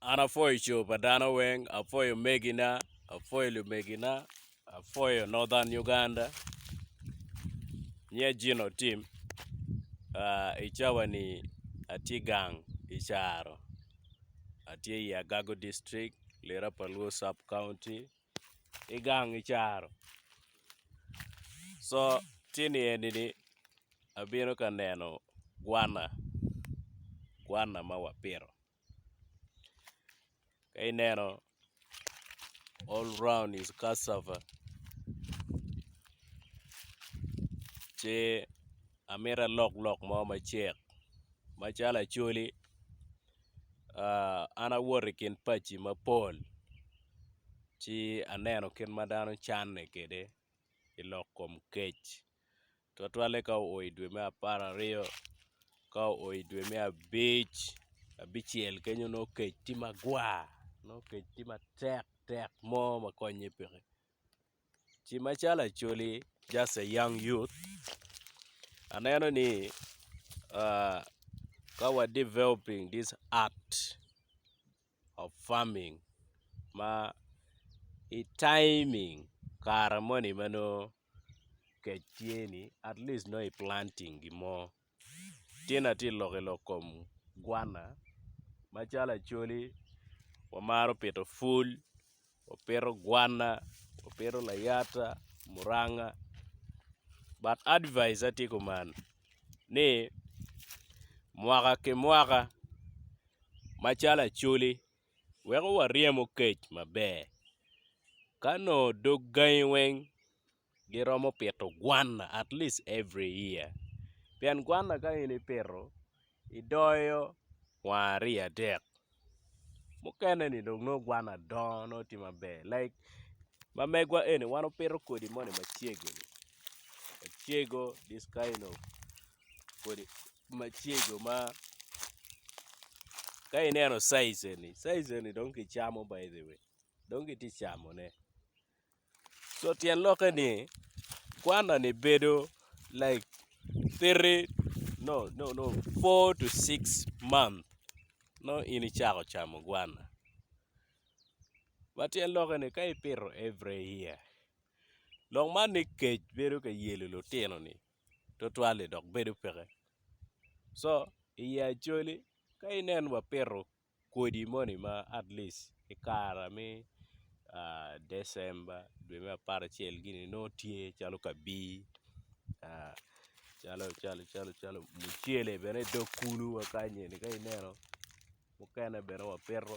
An apwoyo coo pa dano weng, apwoyo megina, apwoyo lumegina, apwoyo Northern Uganda, nyia Gino Otim, i cawa ni atye gang i Caro, atye i Agago district, lira pa Luo sub county, i gang i Caro, so ci ni eni ni abino ka neno gwana, gwana ma wapito. ka ineno all round is cassava ce amito alok lok mo macek macalo acholi an awoto i kin paci mapol ci aneno kit ma dano canne kwede i lok kom kec. Twatwalle ka oo i dwe me apararyo ka oo i dwe me abic abicel kenyo nongo kec tye magwar nongo kec tye matek tek mo ma konye peke ci macalo Acholi just a young youth aneno ni ka wa developing this art of farming ma i taiming kare moni ma nongo kec tye ni at least nongo i planting gin mo tye na tye lok ilok kom gwana macalo acholi wamaro pito pwony wapito gwana wapito layata muranga but advise atye kuman ni mwaka ki mwaka macalo acholi weko waryem okec maber. Ka nongo dog gangi weng giromo pito gwanna at least every year pien gwanna ka in ipito idoyo kwanga aryo adek mukene-ni dong nongo gwanna dongo nongo tye maber like ma megwa eni wan wapito kodi moni macego-ni macego this kind of kodi. macego ma ka ineno size eni size eni dong kicamo by the way dong kitye ka camone so tyen lokke ni kwana ni bedo like three no no no four to six month nongo in icako camo gwana ma tyen lokke ni ka ipito every year lok man ni kec bedo ka yelo lutino ni twatwal-li dok bedo peke. Co i ye Acholi, ka inen wapito kodi moni ma at least i kara me December dwe me apar acel gini nongo tye calo kabir, calo calo calo calo mucele bene i dog kulu wa kanyeni ka ineno mukene bene wapito.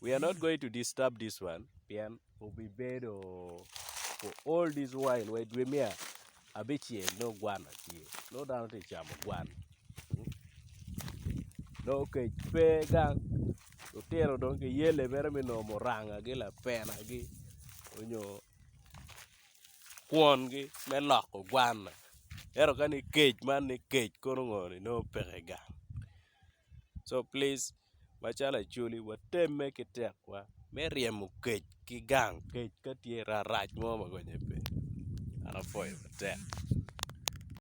we are not going to disturb this one pien obibedo for all this while wa i dwe me abicel nongo gwana tye nongo dano tye ka camo gwana nongo kec pe gang lutino dong giyelle mere me nongo murangagi lapenagi nyo kwongi me loko gwana ento kani kec man ni kec kono ngo ni nongo peke gang. co plic macalo acholi watemme ki tekwa me ryemo kec ki gang kec ka tye rarac mo ma konye pe dok apwoyo matek.